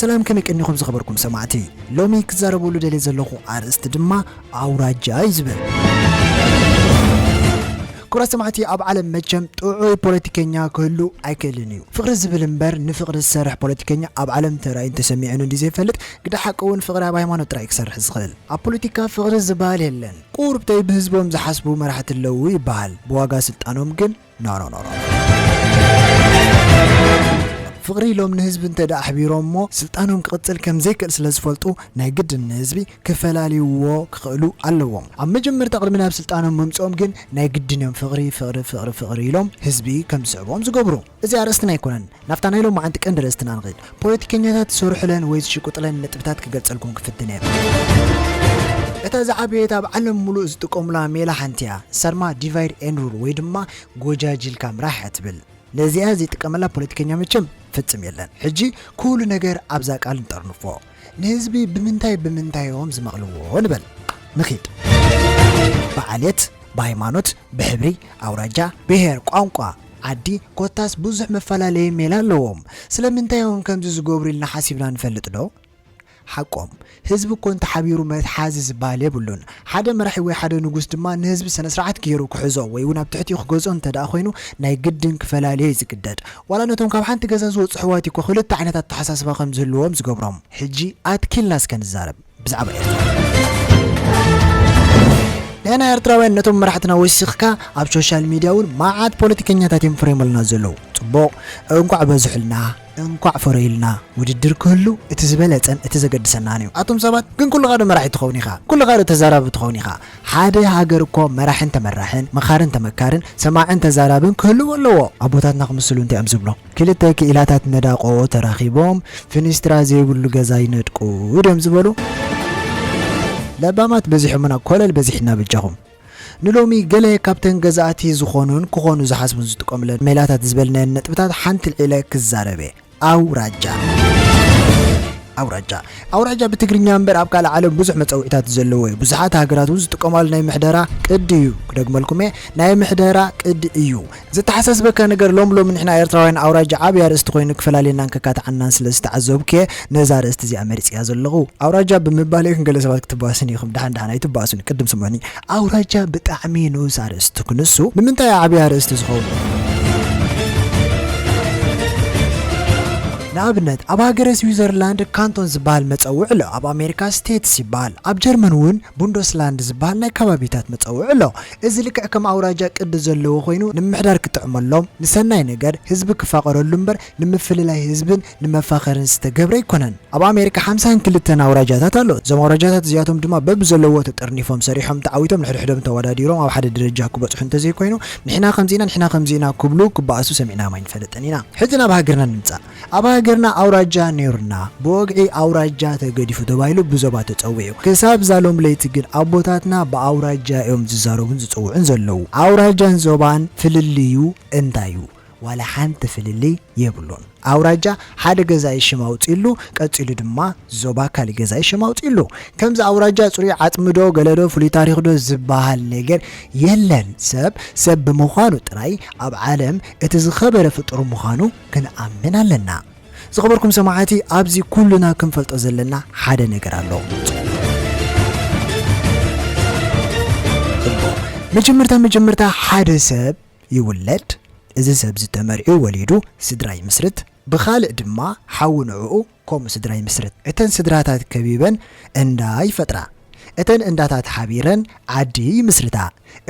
ሰላም ከመይ ቀኒኹም ዝኸበርኩም ሰማዕቲ ሎሚ ክዛረበሉ ደልየ ዘለኹ ኣርእስቲ ድማ ኣውራጃ እዩ ዝብል ክብራት ሰማዕቲ ኣብ ዓለም መቸም ጥዑይ ፖለቲከኛ ክህሉ ኣይክእልን እዩ ፍቅሪ ዝብል እምበር ንፍቅሪ ዝሰርሕ ፖለቲከኛ ኣብ ዓለም ተራእዩን ተሰሚዑን እንዲ ዘይፈልጥ ግዳ ሓቂ እውን ፍቅሪ ኣብ ሃይማኖት ጥራይ ክሰርሕ ዝኽእል ኣብ ፖለቲካ ፍቅሪ ዝበሃል የለን ቁርብተይ ብህዝቦም ዝሓስቡ መራሕቲ ኣለዉ ይበሃል ብዋጋ ስልጣኖም ግን ኖኖኖኖ። ፍቕሪ ኢሎም ንህዝቢ እንተድኣ ኣሕቢሮምዎ ስልጣኖም ክቕፅል ከምዘይክእል ስለዝፈልጡ ናይ ግድን ንህዝቢ ክፈላልይዎ ክኽእሉ ኣለዎም። ኣብ መጀመርታ ቅድሚ ናብ ስልጣኖም ምምፅኦም ግን ናይ ግድን እዮም ፍቕሪ ፍቕሪ ፍቕሪ ፍቕሪ ኢሎም ህዝቢ ከምዝስዕቦም ዝገብሩ። እዚ ኣርእስትና ኣይኮነን ናብታ ናይ ሎማዓንቲ ቀንዲ ርእስትና ንኺድ። ፖለቲከኛታት ዝሰርሑለን ወይ ዝሽቅጡለን ነጥብታት ክገልጸልኩም ክፍትን እየ። እታ ዝዓበየት ኣብ ዓለም ምሉእ ዝጥቀሙላ ሜላ ሓንቲ እያ። ንሳ ድማ ዲቫይድ ኤንድ ሩል ወይ ድማ ጎጃጂልካ ምራሕ እያ ትብል። ነዚኣ ዘይጥቀመላ ፖለቲከኛ መቸም ፍጽም የለን። ሕጂ ኩሉ ነገር ኣብዛ ቃል ንጠርንፎ። ንህዝቢ ብምንታይ ብምንታይ ዮም ዝመቕልዎ ንበል ንኺድ። ብዓሌት፣ ብሃይማኖት፣ ብሕብሪ፣ ኣውራጃ፣ ብሄር፣ ቋንቋ፣ ዓዲ ኮታስ ብዙሕ መፈላለዪ ሜላ ኣለዎም። ስለምንታይ ዮም ከምዚ ዝገብሩ ኢልና ሓሲብና ንፈልጥ ዶ? ሓቆም። ህዝቢ እኮ እንተሓቢሩ መትሓዚ ዝበሃል የብሉን። ሓደ መራሒ ወይ ሓደ ንጉስ ድማ ንህዝቢ ሰነስርዓት ገይሩ ክሕዞ ወይ እውን ኣብ ትሕቲኡ ክገዝኦ እንተድኣ ኮይኑ ናይ ግድን ክፈላልዮ እዩ ዝግደድ። ዋላ ነቶም ካብ ሓንቲ ገዛ ዝወጹ ኣሕዋት እኮ ክልተ ዓይነት ኣተሓሳስባ ከም ዝህልዎም ዝገብሮም። ሕጂ ኣትኪልና እስከ ንዛረብ ብዛዕባ ኤርትራ። ንሕና ኤርትራውያን ነቶም መራሕትና ወሲኽካ ኣብ ሾሻል ሚድያ እውን መዓት ፖለቲከኛታት እዮም ፈሪሞምልና ዘለዉ። ጽቡቕ እንቋዕ በዝሑልና። እንኳዕ ፈረዩልና ውድድር ክህሉ እቲ ዝበለጸን እቲ ዘገድሰናን እዩ ኣቱም ሰባት ግን ኩልኻ ዶ መራሒ ትኸውን ኢኻ ኩልኻ ዶ ተዛራቢ ትኸውን ኢኻ ሓደ ሃገር እኮ መራሕን ተመራሕን መኻርን ተመካርን ሰማዕን ተዛራብን ክህልዎ ኣለዎ ኣቦታትና ክምስሉ እንታይ እዮም ዝብሎ ክልተ ክኢላታት ነዳቖ ተራኺቦም ፍኒስትራ ዘይብሉ ገዛ ይነድቁ ድዮም ዝበሉ ለባማት በዚሖሙና ኮለል በዚሕና በጃኹም። ንሎሚ ገለ ካብተን ገዛእቲ ዝኾኑን ክኾኑ ዝሓስቡን ዝጥቀሙለን ሜላታት ዝበልናየን ነጥብታት ሓንቲ ኣልዒለ ክዛረብ'የ። ኣውራጃ። ኣውራጃ። ኣውራጃ ብትግርኛ እምበር ኣብ ካልእ ዓለም ብዙሕ መጸውዒታት ዘለዎ'ዩ። ብዙሓት ሃገራት'ውን ዝጥቀማሉ ናይ ምሕደራ ቅዲ'ዩ። ክደግመልኩም'የ ናይ ምሕደራ ቅዲ እዩ። ዘተሓሳስበካ ነገር ሎሚ ሎሚ ንሕና ኤርትራውያን ኣውራጃ ዓቢ ኣርእስቲ ኮይኑ ክፈላልየናን ከካትዓናን ስለ ዝተዓዘብኩ'የ ነዛ ኣርእስቲ እዚኣ መሪጸያ ዘለኹ። ኣውራጃ ብምባለይ ግን ገለ ሰባት ክትባእሱኒ ኢኹም። ደሓን ደሓን ኣይትባኣሱኒ ቅድም ስምዑኒ። ኣውራጃ ብጣዕሚ ንኡስ ኣርእስቲ ክንሱ ንምንታይ'ዩ ዓቢ ኣርእስቲ ዝኸውን? ንኣብነት ኣብ ሃገረ ስዊዘርላንድ ካንቶን ዝበሃል መጸውዒ ኣሎ፣ ኣብ ኣሜሪካ ስቴትስ ይበሃል፣ ኣብ ጀርመን እውን ቡንዶስላንድ ዝበሃል ናይ ከባቢታት መጸውዒ ኣሎ። እዚ ልክዕ ከም ኣውራጃ ቅዲ ዘለዎ ኮይኑ ንምምሕዳር ክጥዕመሎም፣ ንሰናይ ነገር ህዝቢ ክፋቐረሉ እምበር ንምፍልላይ ህዝብን ንመፋኸርን ዝተገብረ ኣይኮነን። ኣብ ኣሜሪካ ሓምሳን ክልተን ኣውራጃታት ኣሎ። እዞም ኣውራጃታት እዚኣቶም ድማ በብዘለዎ ተጠርኒፎም ሰሪሖም ተዓዊቶም ንሕድሕዶም ተወዳዲሮም ኣብ ሓደ ደረጃ ክበጽሑ እንተዘይኮይኑ ንሕና ከምዚ ኢና ንሕና ከምዚ ኢና ክብሉ ክበኣሱ ሰሚዕናዮም ኣይንፈልጥን ኢና። ሕዚ ናብ ሃገርና ንምጻእ። ኣብ ሃገርና ኣውራጃ ኔሩና ብወግዒ ኣውራጃ ተገዲፉ ተባሂሉ ብዞባ ተጸዊዑ ክሳብ ዛሎም ለይቲ ግን ኣቦታትና ብኣውራጃ እዮም ዝዛረቡን ዝጽውዑን ዘለዉ ኣውራጃን ዞባን ፍልልዩ እንታይ እዩ ዋላ ሓንቲ ፍልልይ የብሉን ኣውራጃ ሓደ ገዛኢ ሽም ኣውጺሉ ቀጺሉ ድማ ዞባ ካልእ ገዛኢ ሽም ኣውጺሉ ከምዚ ኣውራጃ ጽሩይ ዓጽሚ ዶ ገለ ዶ ፍሉይ ታሪኽ ዶ ዝባሃል ነገር የለን ሰብ ሰብ ብምዃኑ ጥራይ ኣብ ዓለም እቲ ዝኸበረ ፍጡር ምዃኑ ክንኣምን ኣለና። ዝኸበርኩም ሰማዕቲ ኣብዚ ኩሉና ክንፈልጦ ዘለና ሓደ ነገር ኣሎ። እሞ መጀመርታ መጀመርታ ሓደ ሰብ ይውለድ እዚ ሰብዚ ተመርዕዩ ወሊዱ ስድራ ይምስርት ብኻልእ ድማ ሓዉ ንዕኡ ከምኡ ስድራ ይምስርት። እተን ስድራታት ከቢበን እንዳ ይፈጥራ። እተን እንዳታት ሓቢረን ዓዲ ይምስርታ።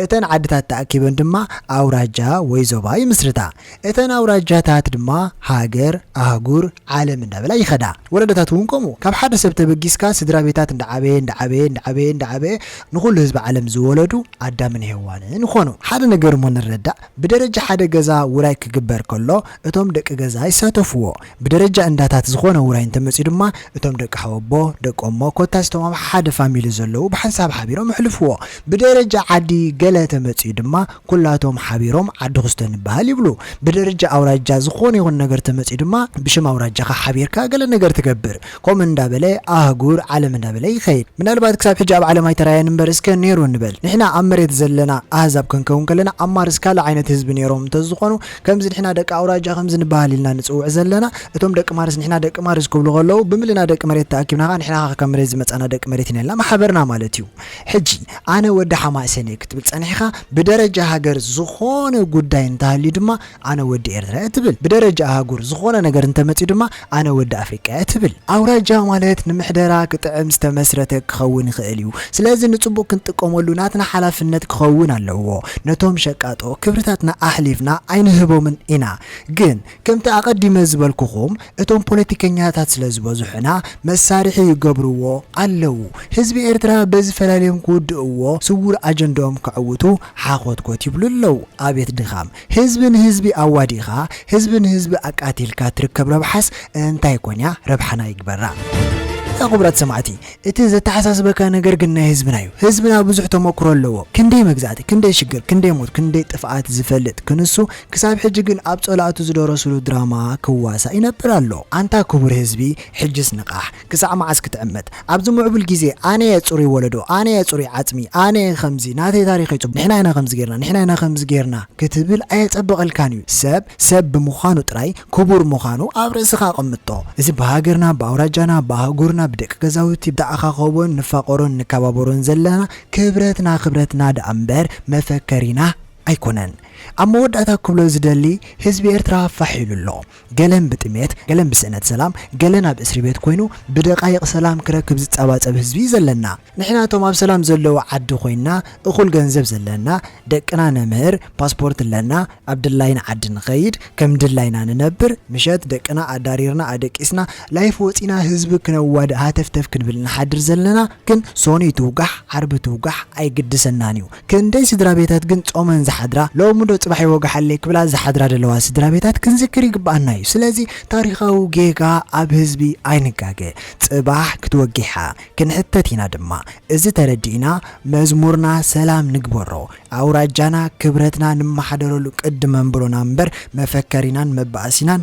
እተን ዓድታት ተኣኪበን ድማ ኣውራጃ ወይ ዞባ ይምስርታ። እተን ኣውራጃታት ድማ ሃገር፣ ኣህጉር፣ ዓለም እንዳበላ ይኸዳ። ወለዶታት እውን ከምኡ። ካብ ሓደ ሰብ ተበጊስካ ስድራ ቤታት እንዳዓበየ እንዳዓበየ እንዳዓበየ እንዳዓበየ ንኹሉ ህዝቢ ዓለም ዝወለዱ ኣዳምን ሄዋንን ኾኑ። ሓደ ነገር እሞ ንረዳእ፣ ብደረጃ ሓደ ገዛ ውራይ ክግበር ከሎ እቶም ደቂ ገዛ ይሳተፉዎ። ብደረጃ እንዳታት ዝኾነ ውራይ እንተመጽዩ ድማ እቶም ደቂ ሓወቦ፣ ደቂ እሞ ኮታስ እቶም ኣብ ሓደ ፋሚሊ ዘለዉ ብሓንሳብ ሓቢሮም ይሕልፍዎ። ብደረጃ ዓዲ ገለ ተመጽዩ ድማ ኩላቶም ሓቢሮም ዓዲ ኩስቶ ንበሃል ይብሉ። ብደረጃ ኣውራጃ ዝኾነ ይኹን ነገር ተመጽዩ ድማ ብሽም ኣውራጃኻ ሓቢርካ ገለ ነገር ትገብር። ከምኡ እንዳበለ ኣህጉር፣ ዓለም እንዳበለ ይኸይድ። ምናልባት ክሳብ ሕጂ ኣብ ዓለም ኣይተራእየን እምበር እስከ ኔሩ ንበል። ንሕና ኣብ መሬት ዘለና ኣህዛብ ከንከውን ከለና ኣብ ማርስ ካልእ ዓይነት ህዝቢ ኔሮም እንተዝኾኑ፣ ከምዚ ንሕና ደቂ ኣውራጃ ከምዚ ንበሃል ኢልና ንጽውዕ ዘለና እቶም ደቂ ማርስ ንሕና ደቂ ማርስ ክብሉ ከለዉ ብምልና ደቂ መሬት ተኣኪብና ከኣ ንሕና ከኣ ካብ መሬት ዝመጻና ደቂ መሬት ኢና ኢልና ማሓበርና ማለት እዩ ሕጂ ኣነ ወዲ ሓማሴን እየ ክትብል ጸኒሕካ ብደረጃ ሃገር ዝኾነ ጉዳይ እንተሃልዩ ድማ ኣነ ወዲ ኤርትራ እየ ትብል ብደረጃ ኣሃጉር ዝኾነ ነገር እንተመጽዩ ድማ ኣነ ወዲ ኣፍሪቃ'የ ትብል። ኣውራጃ ማለት ንምሕደራ ክጥዕም ዝተመስረተ ክኸውን ይኽእል እዩ። ስለዚ ንጽቡቕ ክንጥቀመሉ ናትና ሓላፍነት ክኸውን ኣለዎ። ነቶም ሸቃጦ ክብርታትና ኣሕሊፍና ኣይንህቦምን ኢና። ግን ከምቲ ኣቐዲመ ዝበልኩኹም እቶም ፖለቲከኛታት ስለ ዝበዝሑና መሳርሒ ይገብርዎ ኣለዉ። ህዝቢ ኤርትራ በዚ ፈላልዮም ክውድእዎ ስዉር ኣጀንድኦም ከዕውቱ ሓኾትኮት ይብሉ ኣለዉ። ኣቤት ድኻም! ህዝቢ ንህዝቢ ኣዋዲእኻ ህዝቢ ንህዝቢ ኣቃቲልካ ትርከብ ረብሓስ እንታይ ኮን እያ ረብሓና ይግበራ። ኣታ ክቡራት ሰማዕቲ እቲ ዘተሓሳስበካ ነገር ግን ናይ ህዝብና እዩ። ህዝብና ብዙሕ ተመክሮ ኣለዎ። ክንደይ መግዛእቲ፣ ክንደይ ሽግር፣ ክንደይ ሞት፣ ክንደይ ጥፍኣት ዝፈልጥ ክንሱ ክሳብ ሕጂ ግን ኣብ ጸላእቱ ዝደረስሉ ድራማ ክዋሳእ ይነብር ኣሎ። ኣንታ ክቡር ህዝቢ ሕጅስ ንቓሕ! ክሳዕ መዓስ ክትዕመት ኣብዚ ሙዕቡል ግዜ ኣነየ ጽሩይ ወለዶ ኣነየ ጽሩይ ዓጽሚ ኣነየ ከምዚ ናተይ ታሪኸይ ጽቡቕ ንሕና ኢና ከምዚ ጌርና ንሕና ኢና ከምዚ ጌርና ክትብል ኣየጸብቐልካን እዩ ሰብ ሰብ ብምዃኑ ጥራይ ክቡር ምዃኑ ኣብ ርእስኻ ኣቐምጦ እዚ ብሃገርና ብኣውራጃና ብኣህጉርና ብደቂ ገዛውቲ ብተኣኻኸቦን ንፋቐሮን ንከባበሮን ዘለና ክብረትና ክብረትና ደኣ እምበር መፈከሪና ኣይኮነን ኣብ መወዳእታ ክብሎ ዝደሊ ህዝቢ ኤርትራ ፋሕ ኢሉ ኣሎ ገለን ብጥሜት፣ ገለን ብስእነት ሰላም፣ ገለን ኣብ እስሪቤት ኮይኑ ብደቓይቕ ሰላም ክረክብ ዝጻባጸብ ህዝቢ እዩ ዘለና። ንሕና እቶም ኣብ ሰላም ዘለዎ ዓዲ ኮይንና እኹል ገንዘብ ዘለና፣ ደቅና ነምህር፣ ፓስፖርት ኣለና፣ ኣብ ድላይና ዓዲ ንኸይድ፣ ከም ድላይና ንነብር፣ ምሸት ደቅና ኣዳሪርና ኣደቂስና ላይፍ ወጺና ህዝቢ ክነዋድእ ሃተፍተፍ ክንብል ንሓድር ዘለና፣ ግን ሶኑይ ትውጋሕ ዓርቢ ትውጋሕ ኣይግድሰናን እዩ ክንደይ ስድራቤታት ግን ጾመን ዝሓድራ ሎሚ ዶ ጽባሕ ይወጋሓለይ ክብላ ዝሓድራ ደለዋ ስድራቤታት ክንዝክር ይግብኣና እዩ ስለዚ ታሪኻዊ ጌጋ ኣብ ህዝቢ ኣይንጋገ ጽባሕ ክትወጊሓ ክንሕተት ኢና ድማ እዚ ተረዲእና መዝሙርና ሰላም ንግበሮ ኣውራጃና ክብረትና ንማሓደረሉ ቅዲ መንብሮና እምበር መፈከሪናን መባኣሲናን